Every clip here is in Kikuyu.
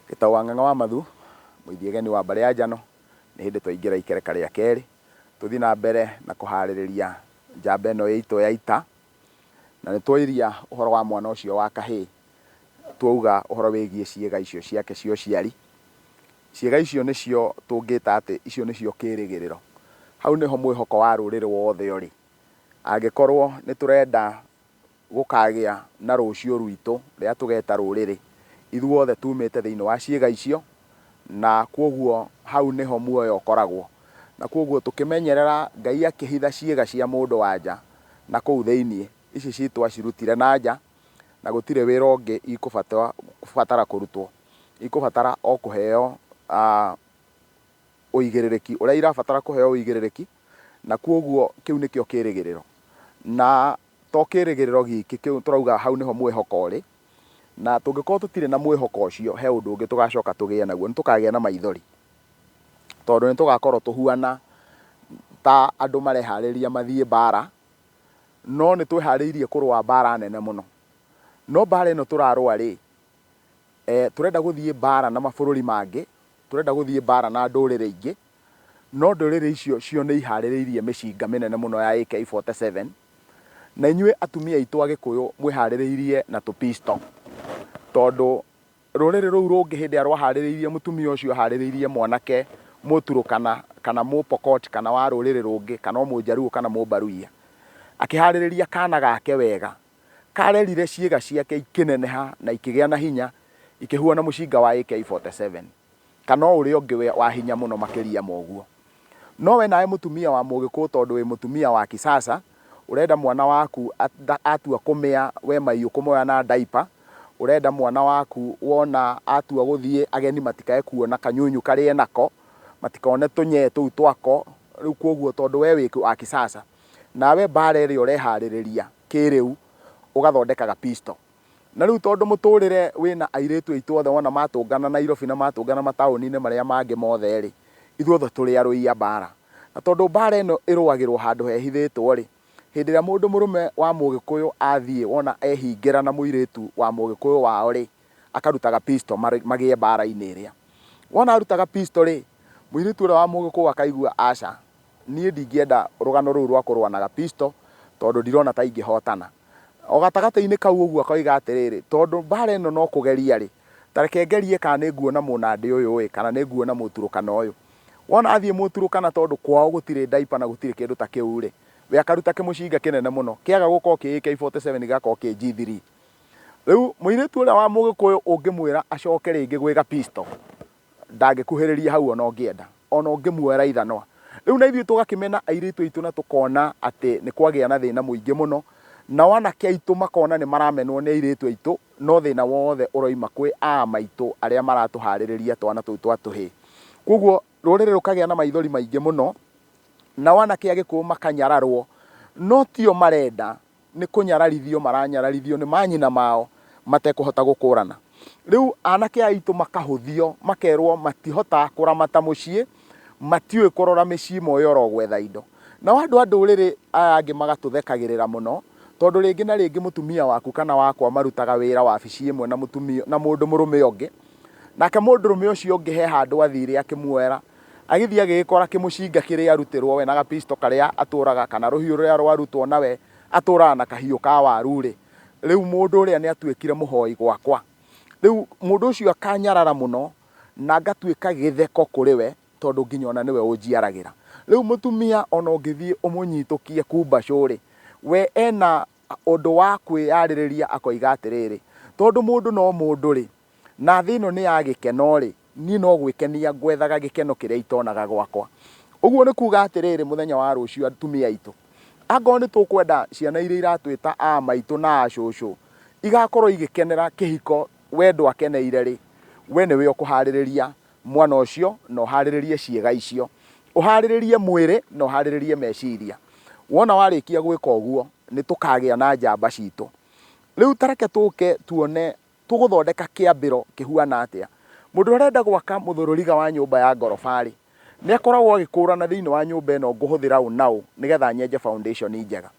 Gĩtaũ wa Ng'ang'a wa Mathu, Mũithiege nĩ wa mbarĩ ya Njano, nĩ hĩndĩ twaingĩra ikereka rĩa kerĩ, tũthiĩ na mbere na kũharĩrĩria njamba ĩno itũ ya ita, na nĩ twairia ũhoro wa mwana ũcio wa kahĩĩ, twauga ũhoro wĩgiĩ ciĩga icio ciake cia ũciari. Ciĩga icio nĩcio tũngĩta atĩ icio nĩcio kĩrĩgĩrĩro. Hau nĩho mwĩhoko wa rũrĩrĩ wothe ũrĩ. Angĩkorwo nĩ tũrenda Gũkaagĩa na rũciũ rwitũ rĩrĩa tũgeeta rũrĩrĩ, ithuothe tuumĩte thĩinĩ wa ciĩga icio, na kwoguo hau nĩho muoyo ũkoragwo. Na kwoguo tũkĩmenyerera, Ngai akĩhitha ciĩga cia mũndũ-wa-nja na kũu thĩinĩ, ici ciitũ acirutire na nja, na gũtirĩ wĩra ũngĩ ikũbatara kũrutwo. Ikũbatara o kũheo ũigĩrĩrĩki ũrĩa irabatara kũheo ũigĩrĩrĩki, na kwoguo kĩu nĩkĩo kĩĩrĩgĩrĩro. Na To kĩĩrĩgĩrĩro gĩkĩ kĩu tũrauga hau nĩho mwĩhoko ũrĩ, na tũngĩkorũo tũtirĩ na mwĩhoko ũcio, he ũndũ ũngĩ tũgaacoka tũgĩe naguo, nĩ tũkaagĩa na maithori, tondũ nĩ tũgaakorũo tũhuana ta andũ marehaarĩria mathiĩ mbaara, no nĩ twĩhaarĩirie kũrũa mbaara nene mũno. No mbaara ĩno tũrarũa-rĩ, tũrenda gũthiĩ mbaara na mabũrũri mangĩ, tũrenda gũthiĩ mbaara na ndũrĩrĩ ingĩ, No ndũrĩrĩ icio cio nĩihaarĩrĩirie mĩcinga mĩnene mũno ya AK-47, na inyuĩ atumia aitũ Agĩkũyũ mwĩhaarĩrĩirie na tũpisto, tondũ rũrĩrĩ rũu rũngĩ hĩndĩ ĩrĩa rwahaarĩrĩirie mũtumia ũcio ahaarĩrĩirie mwanake Mũturũkana kana Mũpokot kana wa rũrĩrĩ rũngĩ kana o Mũjaruo kana Mũmbaruiya, akĩhaarĩrĩria kaana gake wega, karerire ciĩga ciake ikĩneneha na ikĩgĩa na hinya ikĩhuana mũcinga wa AK-47. Kana o ũrĩa ũngĩ wa hinya mũno makĩria ma ũguo. No we nawe mũtumia wa Mũgĩkũũ tondũ wĩ mũtumia wa kisasa, ũrenda mwana waku atua kũmĩa we maiũ kũmoya na diaper, ũrenda mwana waku wona atua gũthiĩ ageni matikae kuona kanyunyu karĩa enako, matikone tũnyee tũu twako, rĩu kwoguo tondũ we wĩ wa kisasa, nawe mbaara ĩrĩa ũreharĩrĩria kĩrĩu, ũgathondeka ga pistol. Na rĩu tondũ mũtũrĩre wĩ na airĩtu aitũ othe wona matũngana Nairobi na matũngana mataũni-inĩ marĩa mangĩ mothe-rĩ, ithuothe tũrĩ arũi a mbaara. Na tondũ mbaara ĩno ĩrũagĩrwo handũ hehithĩtwo-rĩ, hĩndĩ ĩrĩa mũndũ mũrũme wa Mũgĩkũyũ athiĩ wona ehingĩra na mũirĩtu wa Mũgĩkũyũ wao-rĩ, akarutaga pistol magĩe mbaara-inĩ ĩrĩa. Wona arutaga pistol-rĩ, mũirĩtu ũrĩa wa Mũgĩkũyũ akaigua aca, Niĩ ndingĩenda rũgano rũu rwa kũrũa na Gapisto tondũ ndirona ta ingĩhootana. O gatagatĩ-inĩ kau ũguo akoiga atĩrĩrĩ, Tondũ mbaara ĩno no kũgeria-rĩ, ta reke ngerie kana nĩ nguona Mũnandi ũyũ-ĩ, kana nĩ nguona Mũturũkana ũyũ. Wona athiĩ Mũturũkana tondũ kwao gũtirĩ diaper na gũtirĩ kĩndũ ta kĩu-rĩ, we akaruta kĩmũcinga kĩnene mũno, kĩaga gũkorwo kĩ AK-47 gĩgakorwo kĩ G3. Rĩu mũirĩtu ũrĩa wa Mũgĩkũyũ ũngĩmwĩra acoke rĩngĩ gwĩ Gapisto, Ndangĩkuhĩrĩria hau o na ũngĩenda, o na ũngĩmuoya raithanwa. Rĩu na ithuĩ tũgakĩmena airĩtu aitũ na tũkona atĩ nĩ kwagĩa na thĩna mũingĩ mũno, nao anake aitũ makona nĩ maramenwo nĩ airĩtu aitũ, no thĩna wothe ũroima kwĩ aa maitũ arĩa maratũhaarĩrĩria twana tũu twa tũhĩĩ. Kwoguo rũrĩrĩ rũkagĩa na maithori maingĩ mũno, nao anake a Gĩkũyũ makanyararwo, no ti o marenda. nĩ kũnyararithio maranyararithio nĩ manyina mao matekũhota gũkũrana. Rĩu anake aitũ makahũthio, makerwo matihotaga kũramata mũciĩ, matiũĩ kũrora mĩciĩ moĩ oro gwetha indo. Nao andũ a ndũrĩrĩ aya angĩ magatũthekagĩrĩra mũno, tondũ rĩngĩ na rĩngĩ mũtumia waku kana wakwa marutaga wĩra wabici ĩmwe na mũndũ mũrũme ũngĩ, nake mũndũrũme ũcio ũngĩ he handũ athire akĩmuoera Agĩthiĩ agĩgĩkora kĩmũcinga kĩrĩ arutĩrwo we na gapisto karĩa atũraga kana rũhiũ rũrĩa rwarutwo na we atũraga na kahiũ ka waru-rĩ, rĩu mũndũ ũrĩa nĩ atuĩkire mũhoi gwakwa. Rĩu mũndũ ũcio akanyarara mũno na ngatuĩka gĩtheko kũrĩ we tondũ nginya o na nĩwe ũnjiaragĩra. Rĩu mũtumia o na ũngĩthiĩ ũmũnyitũkie kumbacũ-rĩ, we ena ũndũ wa kwĩyarĩrĩria akoiga atĩrĩrĩ, tondũ mũndũ no mũndũ-rĩ, na thĩ ĩno nĩ ya gĩkeno-rĩ, niĩ no gwĩkenia ngwethaga gĩkeno kĩrĩa itonaga gwakwa. Ũguo nĩ kuuga atĩrĩrĩ, mũthenya wa rũciũ atumia aitũ, angorwo nĩ tũkwenda ciana iria iratwĩta a maitũ na a cũcũ igakorwo igĩkenera kĩhiko wendo akeneire-rĩ, we nĩwe ũkũharĩrĩria mwana ũcio na ũharĩrĩrie ciĩga icio, ũharĩrĩrie mwĩrĩ na ũharĩrĩrie meciria. Wona warĩkia gwĩka ũguo, nĩ tũkagĩa na njamba citũ. Rĩu ta reke tũke tuone Tũgũthondeka kĩambĩro kĩhuana atĩa? Mũndũ ũrĩa ũrenda gwaka mũthũrũriga wa nyũmba ya ngoroba-rĩ, nĩ akoragwo agĩkũũrana thĩinĩ wa nyũmba ĩno ngũhũthĩra ũũ na ũũ nĩgetha nyenje foundation njega.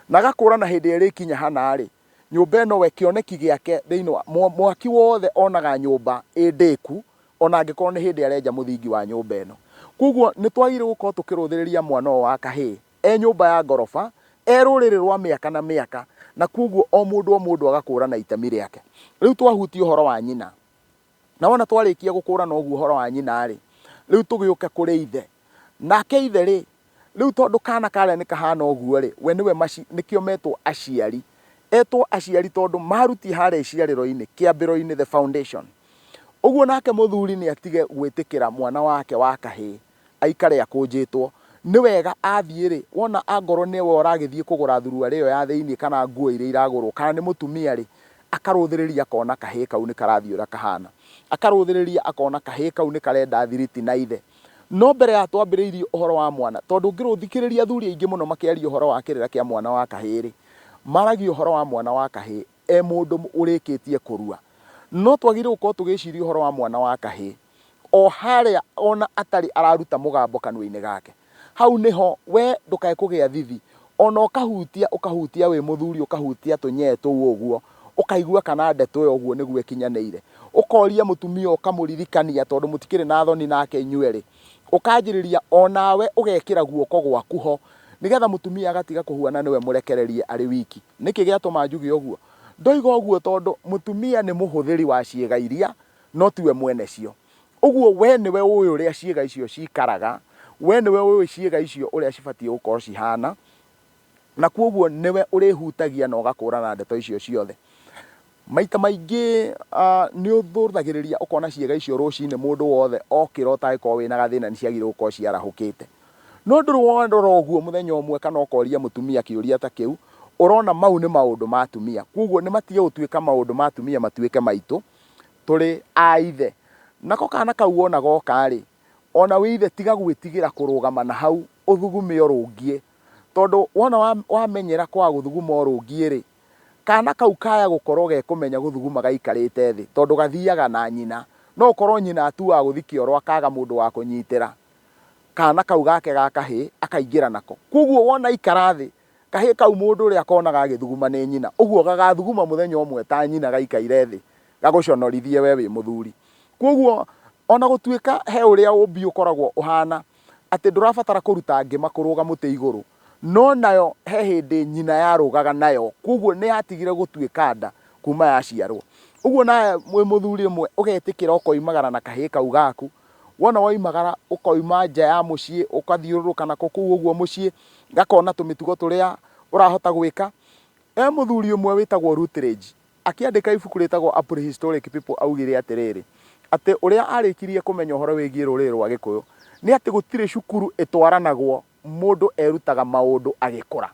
Na agakũũrana hĩndĩ ĩrĩa ĩrĩkinya hana-rĩ, nyũmba ĩno we kĩoneki gĩake thĩinĩ wa, mwaki wothe onaga nyũmba ĩ ndĩku ona angĩkorwo nĩ hĩndĩ arenja mũthingi wa nyũmba ĩno. Kwoguo nĩ twagĩrĩirwo gũkorwo tũkĩrũthĩrĩria mwana ũyũ wa kahĩĩ. e nyũmba ya ngoroba, e rũrĩrĩ rwa mĩaka na mĩaka, na kwoguo o mũndũ o mũndũ agakũũrana itemi rĩake. Rĩu twahutia ũhoro wa nyina, na wona twarĩkia gũkũũrana ũguo ũhoro wa nyina-rĩ, rĩu tũgĩũke kũrĩ ithe. Nake ithe-rĩ, rĩu tondũ kaana karĩa nĩ kahana ũguo-rĩ, we nĩwe maci, nĩkĩo metwo aciari. Etwo aciari tondũ maruti harĩa iciarĩro-inĩ, kĩambĩro-inĩ, the foundation. Ũguo nake mũthuri nĩ atige gwĩtĩkĩra mwana wake wa kahĩĩ, aikare akũnjĩtwo. Nĩ wega athiĩ-rĩ, wona angorwo nĩwe ũragĩthiĩ kũgũra thuruarĩ ĩyo ya thĩiniĩ kana nguo iria iragũrwo, kana nĩ mũtumia-rĩ, akarũthĩrĩria akona kahĩĩ kau nĩ karathiĩ ũrĩa kahana. Akarũthĩrĩria akona kahĩĩ kau nĩ karenda thiriti na ithe. No mbere ya twambĩrĩirie ũhoro wa mwana, tondũ ũngĩrũthikĩrĩria athuri aingĩ mũno makĩaria ũhoro wa kĩrĩra kĩa mwana wa kahĩĩ-rĩ, maragia ũhoro wa mwana wa kahĩĩ. e mũndũ ũrĩkĩtie kũrua. No twagĩrĩirwo gũkorwo tũgĩciria ũhoro wa mwana wa kahĩĩ, o harĩa ona atarĩ araruta mũgambo kanua-inĩ gake. Hau nĩho, wee ndũkae kũgĩa thithi, ona ũkahutia, ũkahutia wĩ mũthuri, ũkahutia tũnyee tũu ũguo, ũkaigua kana ndeto ĩyo ũguo nĩguo ĩkinyanĩire. Ũkoria mũtumia ũkamũririkania tondũ mũtikĩrĩ na thoni nake inyuerĩ. ũkanjĩrĩria o nawe ũgekĩra guoko gwaku ho, nĩgetha mũtumia agatiga kũhua na nĩwe mũrekererie arĩ wiki. Nĩkĩ gĩatũma njuge ũguo? Ndoiga ũguo tondũ mũtumia nĩ mũhũthĩri wa ciĩga iria, no tiwe mwene cio. Ũguo we nĩwe ũĩ ũrĩa ciĩga icio cikaraga, we nĩwe ũĩ ciĩga icio ũrĩa cibatiĩ gũkorwo cihana, Na kwoguo nĩwe ũrĩhutagia na ũgakũũrana ndeto icio ciothe. Maita maingĩ nĩ ũthũthagĩrĩria ũkona ciĩga icio rũcinĩ mũndũ wothe okĩra ũtangĩkorwo wĩna gathĩna nĩ ciagĩrĩirwo gũkorwo ciarahũkĩte. No ndũrĩ worora ũguo mũthenya ũmwe kana ũkoria mũtumia kĩũria ta kĩu, ũrona mau nĩ maũndũ ma atumia. Kwoguo nĩ matige gũtuĩka maũndũ ma atumia matuĩke maitũ tũrĩ a ithe. Nako kana kau wona goka rĩ, ona wĩ ithe tiga gwĩtigĩra kũrũgama na hau ũthugume ũrũngie Tondũ wona wa, wamenyera kwaga gũthuguma ũrũngiĩ-rĩ, kaana kau kaya gũkorwo gekũmenya gũthuguma gaikarĩte thĩ, tondũ gathiaga na nyina. No ũkorwo nyina atuaga gũthi kĩoro akaga mũndũ wa kũnyitĩra, kaana kau gake ga kahĩĩ akaingĩra nako. Kwoguo wona aikara thĩ, kahĩĩ kau mũndũ ũrĩa konaga gagĩthuguma nĩ nyina. Ũguo gagathuguma mũthenya ũmwe ta nyina gaikaire thĩ, gagũconorithie wee wĩ mũthuri. Kwoguo ona gũtuĩka he ũrĩa ũũmbi ũkoragwo ũhana, atĩ ndũrabatara kũruta ngĩma kũrũga mũtĩ igũrũ. No nayo he hĩndĩ nyina yarũgaga nayo, kwoguo nĩ yatigire gũtuĩka nda kuma yaciarwo. Ũguo nawe wĩ mũthuri rĩmwe ũgetĩkĩra ũkoimagara na kahĩĩ kau gaku, wona woimagara ũkoima nja ya mũciĩ ũkathiũrũrũka nako kũu ũguo mũciĩ, gakona tũmĩtugo tũrĩa ũrahota gwĩka. He mũthuri ũmwe wĩtagwo Rutledge, Akĩandĩka ibuku rĩtagwo A Prehistoric People aaugire atĩrĩrĩ, atĩ ũrĩa aarĩkirie kũmenya ũhoro wĩgiĩ rũrĩrĩ rwa Gĩkũyũ nĩ atĩ gũtirĩ cukuru ĩtwaranagwo mũndũ erutaga maũndũ agĩkũra.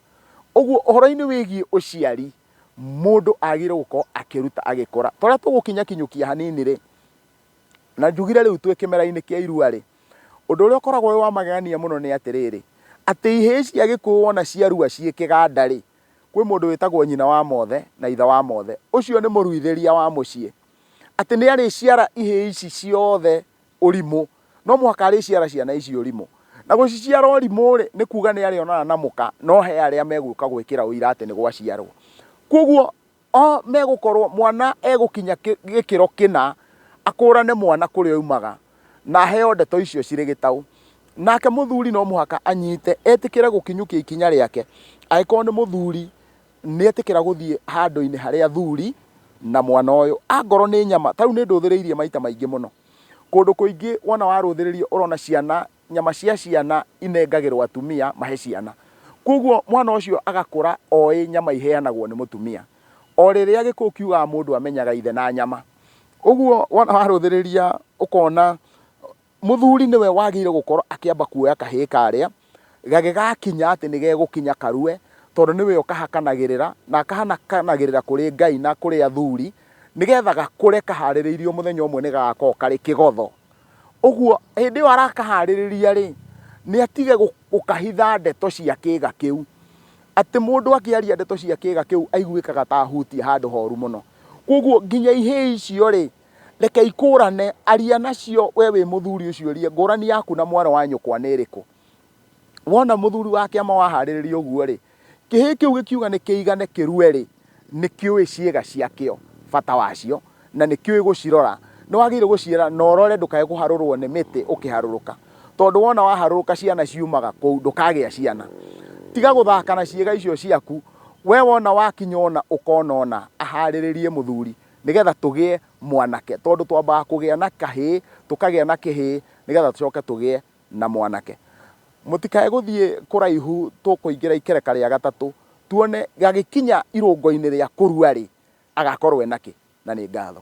Ũguo ũhoro-inĩ wĩgiĩ ũciari mũndũ agĩrĩirũo gũkorũo akĩruta agĩkũra. Ta ũrĩa tũgũkinyakinyũkia hanini-rĩ, na njugire rĩu twĩ kĩmera-inĩ kĩa irua-rĩ, ũndũ ũrĩa ũkoragwo wĩ wa magegania mũno nĩ atĩrĩrĩ, atĩ ihĩĩ cia Gĩkũyũ wona ciarua ciĩ kĩganda-rĩ, Kwĩ mũndũ wĩtagwo nyina wa mothe na ithe wa mothe, ũcio nĩ mũruithĩria wa mũciĩ, atĩ nĩ arĩciara ihĩĩ ici ciothe ũrimũ, no mũhaka arĩciara ciana ici ũrimũ. Na gũciciara ũrimũ-rĩ, nĩ kuuga nĩ arĩonana na mũka, no he arĩa megũka gwĩkĩra ũira atĩ nĩ gwaciarwo. Kwoguo O megũkorwo mwana egũkinya gĩkĩro kĩna, akũũrane mwana kũrĩa oimaga, na aheo ndeto icio cirĩ gĩtaũ. Nake mũthuri no mũhaka anyite, etĩkĩre gũkinyũkia ikinya rĩake, angĩkorwo nĩ mũthuri nĩetĩkĩra gũthiĩ handũ-inĩ harĩa athuri na mwana ũyũ. Angorwo nĩ nyama, ta rĩu nĩndũthĩrĩirie maita maingĩ mũno, kũndũ kũingĩ wona warũthĩrĩria ũrona ciana nyama cia ciana inengagĩrwo atumia mahe ciana. Kwoguo mwana ũcio agakũra oĩ nyama iheanagwo nĩ mũtumia. O rĩrĩa gĩkũyũ kiugaga mũndũ amenyaga ithe na nyama. Ũguo wona warũthĩrĩria ũkona mũthuri nĩwe wagĩrĩire gũkorwo akĩamba kuoya kahĩĩ karĩa, gagĩgakinya atĩ nĩ gegũkinya karue, tondũ nĩwe ũkahakanagĩrĩra, na akahakanagĩrĩra kũrĩ Ngai na kũrĩ athuri, nĩgetha gakũre kaharĩrĩirio mũthenya ũmwe nĩ gagakorwo karĩ kĩgotho. Ũguo hĩndĩ ĩyo arakaharĩrĩria-rĩ, nĩ atige gũkahitha ndeto cia kĩĩga kĩu. Atĩ mũndũ akĩaria ndeto cia kĩĩga kĩu aiguĩkaga ta ahutia handũ horu mũno. Kwoguo nginya ihĩĩ icio-rĩ, reke ikũrane, aria nacio we wĩ mũthuri ũciũrie ngũrani yaku na mwarĩ wa nyũkwa nĩ ĩrĩkũ. Wona mũthuri wa kĩama waharĩrĩria ũguo-rĩ, kĩhĩĩ kĩu gĩkiuga nĩ kĩigane kĩrue-rĩ, nĩ kĩũĩ ciĩga ciakĩo, bata wacio, na nĩ kĩũĩ gũcirora. Nĩ wagĩrĩirũo gũciĩra na ũrore ndũkae kũharũrũo nĩ mĩtĩ ũkĩharũrũka, tondũ wona waharũrũka ciana ciumaga kũu, ndũkagĩa ciana. Tiga gũthaka na ciĩga icio ciaku, wee wona wakinya ũna ũkona ũna, aharĩrĩrie mũthuri, nĩgetha tũgĩe mwanake, tondũ twambaga kũgĩa na kahĩĩ, tũkagĩa na kĩhĩĩ, nĩgetha tũcoke tũgĩe na mwanake. Mũtikae gũthiĩ kũraihu tũkũingĩra ikereka rĩa gatatũ tuone gagĩkinya irũngo-inĩ rĩa kũrua-rĩ, agakorwo enakĩ? Na nĩ ngatho.